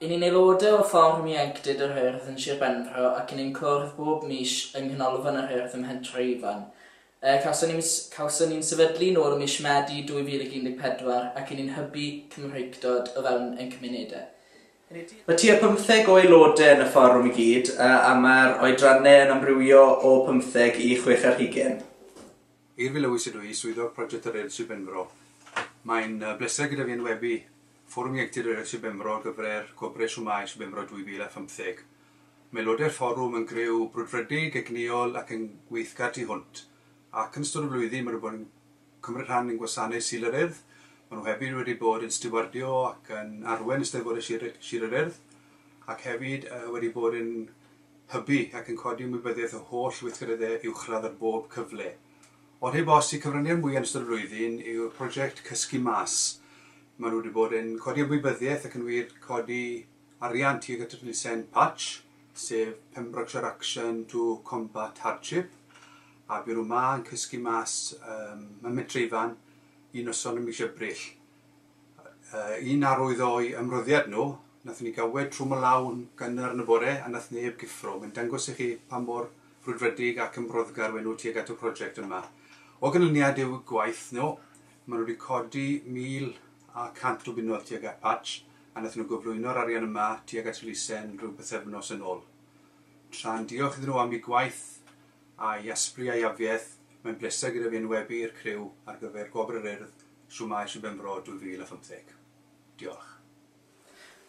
Y ni'n aelodau o Fforwm Ieuenctid yr Urdd yn Sir Benfro ac y ni'n cwrdd bob mis yng Nghanolfan yr Urdd ym Mhentre Ifan. Y cawson ni mis, cawson ni'n sefydlu nôl ym mis Medi 2014 ac y ni'n hybu Cymreictod o fewn ein cymunedau. Mae tua pymtheg o aelodau yn y Fforwm i gyd a mae'r oedrannau yn amrywio o pymtheg i chwech ar hugain. Eirfi Lewis ydw i, Swyddog Project yr Urdd Sir Benfro. Mae'n bleser gyda fi enwebu Fforwm Ieuenctid yr Esbymro gyfer Gwobrau Shwmae Esbymro 2015. Mae aelodau'r Fforwm yn griw brwdfrydig, egnïol ac yn weithgar tu hwnt, ac yn ystod y flwyddyn maen nhw bod yn cymryd rhan yn gwasanaeth Sul yr Urdd, maen nhw hefyd wedi bod yn stiwardio ac yn arwain Eisteddfodau Sir Sir yr Urdd, ac hefyd wedi bod yn hybu ac yn codi ymwybyddiaeth y holl weithgareddau uwchradd ar bob cyfle. Ond heb os, y cyfraniad mwya yn ystod y flwyddyn yw'r prosiect Cysgu Mas. Maen nhw wedi bod yn codi ymwybyddiaeth ac yn wir codi arian tuag at y twnnisen Patch, sef Pembrokeshire Action to Combat Hardship, a bu nhw 'ma yn cysgu mas ym Mhentre Ifan un noson ym mis Ebrill. un arwydd o'u ymroddiad nhw, nathon ni ga'l wed trwm y law yn gynnar yn y bore a nath neb gyffro. Mae'n dangos i chi pa mor frwdfrydig ac ymroddgar we' nhw tuag at y prosiect yma. O ganlyniad i'w gwaith nhw, ma' nhw wedi codi 1,100 o bunnoedd tuag at Patch a nathon nhw gyflwyno'r arian yma tuag at elusen rhyw bythefnos yn ôl. Tra'n diolch iddyn nhw am eu gwaith a'i asbri a'i afiaith, mae'n bleser gyda fi enwebu i'r criw ar gyfer Gwobr yr Urdd Shwmae Sir Benfro 2015. Diolch.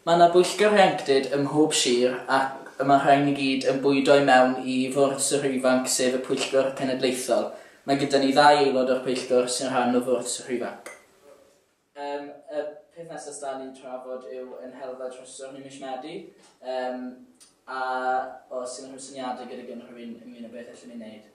Mae 'na bwyllgor ieuenctid ym mhob sir ac y mae'r rhain i gyd yn bwydo i mewn i Fwrdd Sirau Ifanc sef y pwyllgor cenedlaethol. Mae gyda ni ddau aelod o'r pwyllgor sy'n rhan o Fwrdd Sirau Ifanc. Yym y peth nesa sda ni'n trafod yw yn helfa trysor ni mish Medi yym a os unrhyw syniadau gyda gynrhywun ynglyn â beth allwn ni wneud.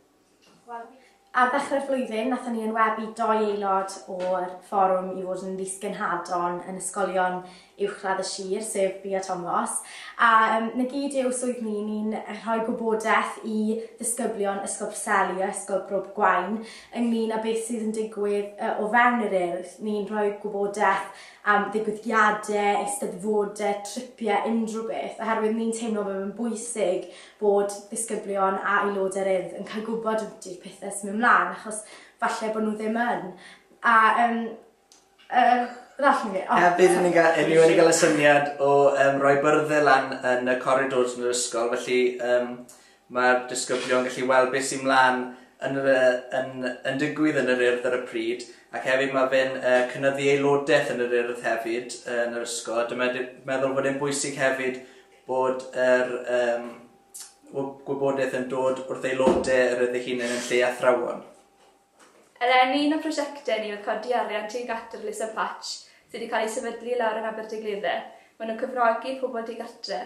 Ar ddechrau'r flwyddyn, nathon ni enwebu dou aelod o'r fforwm i fod yn Ddisgynhadon yn ysgolion uwchradd y sir, sef fi a Tomos, a yym 'na gyd yw swydd ni, ni'n rhoi gwybodaeth i ddisgyblion Ysgol Preseli a Ysgol Bro Gwaun ynglŷn â beth sydd yn digwydd yy o fewn yr Urdd, ni'n rhoi gwybodaeth am ddigwyddiade, eisteddfode, tripie, unrhyw beth, oherwydd ni'n teimlo bod e'n bwysig bod disgyblion a aelodau'r Urdd yn cael gwybod ydy'r pethau sy'n mynd mlaen, achos falle bod nhw ddim yn. A um, uh, ddarllen fi. Oh, Hefyd, ni'n ga, ni wedi cael y syniad o um, roi byrddau lan yn y corridors yn yr ysgol, felly um, mae'r disgyblion gallu weld beth sy'n mlaen yn, yn, yn digwydd yn yr urdd ar y pryd, ac hefyd mae fe'n uh, cynnyddu aelodaeth yn yr urdd hefyd uh, yn yr ysgol. Dyma meddwl bod e'n bwysig hefyd Bod yr um, gwybodaeth yn dod wrth aelodau yr ydych chi'n yn lle athrawon. Er enw un o prosiectau ni oedd codi arian tuag at yr Elusen Patch sydd wedi cael ei sefydlu lawr yn Aberdaugleddau. Mae nhw'n cyfrogi pobl digartre.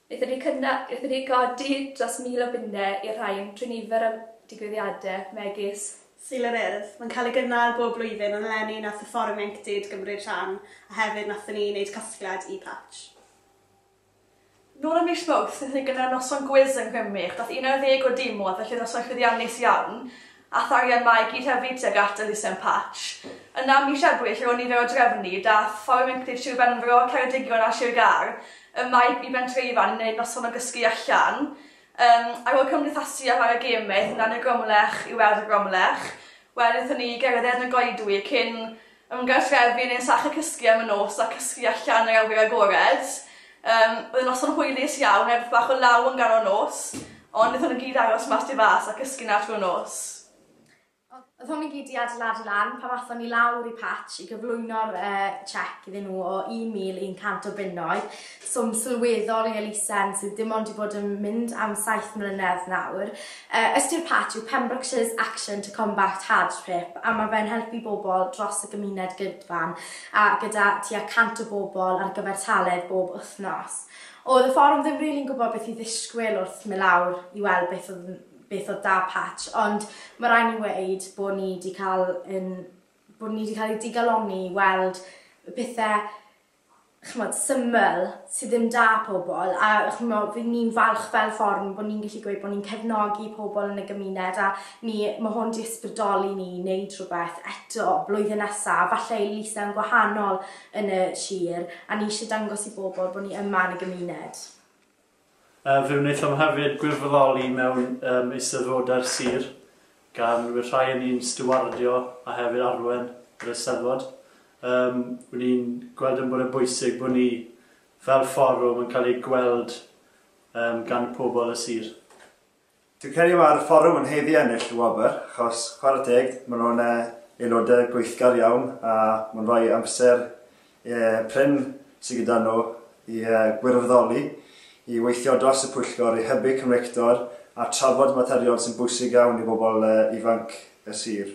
Wnaethon ni, cynna, wnaethon ni godi dros mil o bunnau i'r rhain trwy nifer o digwyddiadau, megis Sul yr Urdd. Mae'n cael ei gynnal bob blwyddyn ond eleni nath y Fforwm Ieuenctid gymryd rhan a hefyd nathon ni wneud casgliad i Patch. Nôl ym mis Mawrth, daethon ni gyda'r noson gwis yng Nghymru, ac daeth 11 o dîm oedd, felly noson llwyddiannus iawn. Aeth arian 'ma i gyd hefyd tuag at elusen Patch. Yna ym mis Ebrill ar ôl nifer o drefni, daeth Fforwm Ieuenctid Sir Benfro, Ceredigion a Sir Gâr yma i Bentreifan i wneud noson o gysgu allan. Yym, ar ôl cymdeithasu a chwarae gêm aethon ni lan i'r Gromlech i weld y Gromlech. Wedyn aethon ni i gerdded yn y goedwig cyn Ymgartrefu yn ein sachr cysgu am y nos a cysgu allan yr awyr agored. Yym, oedd y noson hwylus iawn, erbeth bach o law yn ganol nos, ond wnaethon nhw gyd aros mas tu fas a cysgu 'na trwy'r nos. Oedd hwn i gyd 'di adeiladu lan pan athon ni lawr i Patch i gyflwyno'r yy cheque iddyn nhw o 1,100 o bunnoedd. Swm sylweddol i elusen sydd dim ond 'di bod yn mynd am saith mlynedd nawr. Ystyr Pat yw Pembrokeshire's Action to Combat Hardship a mae fe'n helpu bobl dros y gymuned gydfan a gyda tua 100 o bobl ar gyfartaledd bob wythnos. Oedd y fforwm ddim rili'n gwybod beth i ddisgwyl wrth mynd lawr i weld beth oedd yn beth oedd 'da Pat ond mae rhaid ni weud bod ni 'di cael ein bod ni 'di cael ei digalonni i weld y pethe ch'mod, syml, sy ddim 'da pobl, a ch'mod, fi'n, ni'n falch fel fforwm bod ni'n gallu gweud bod ni'n cefnogi pobl yn y gymuned a ni, ma' hwn 'di ysbrydoli ni i neud rhywbeth eto blwyddyn nesa, falle i Lisa-'n gwahanol yn y sir, a ni isie dangos i bobl bod ni yma yn y gymuned. Yy fe wnaethom hefyd gwirfoddoli mewn yym Eisteddfodau'r Sir, gan we' rhai o ni'n stiwardio a hefyd arwen yr Eisteddfod. Yym we' ni'n gweld yn bod yn bwysig bo' ni fel fforwm yn cael ei gweld yym gan pobl y Sir. Dwi'n credu mae'r fforwm yn haeddu ennill y wobr, achos chwarae teg, maen nhw'n aelodau gweithgar iawn a mae'n rhoi amser prin sydd gyda nhw i gwirfoddoli, i weithio dros y pwyllgor, i hybu cymreictod a trafod materion sy'n bwysig iawn i bobl ifanc y sir.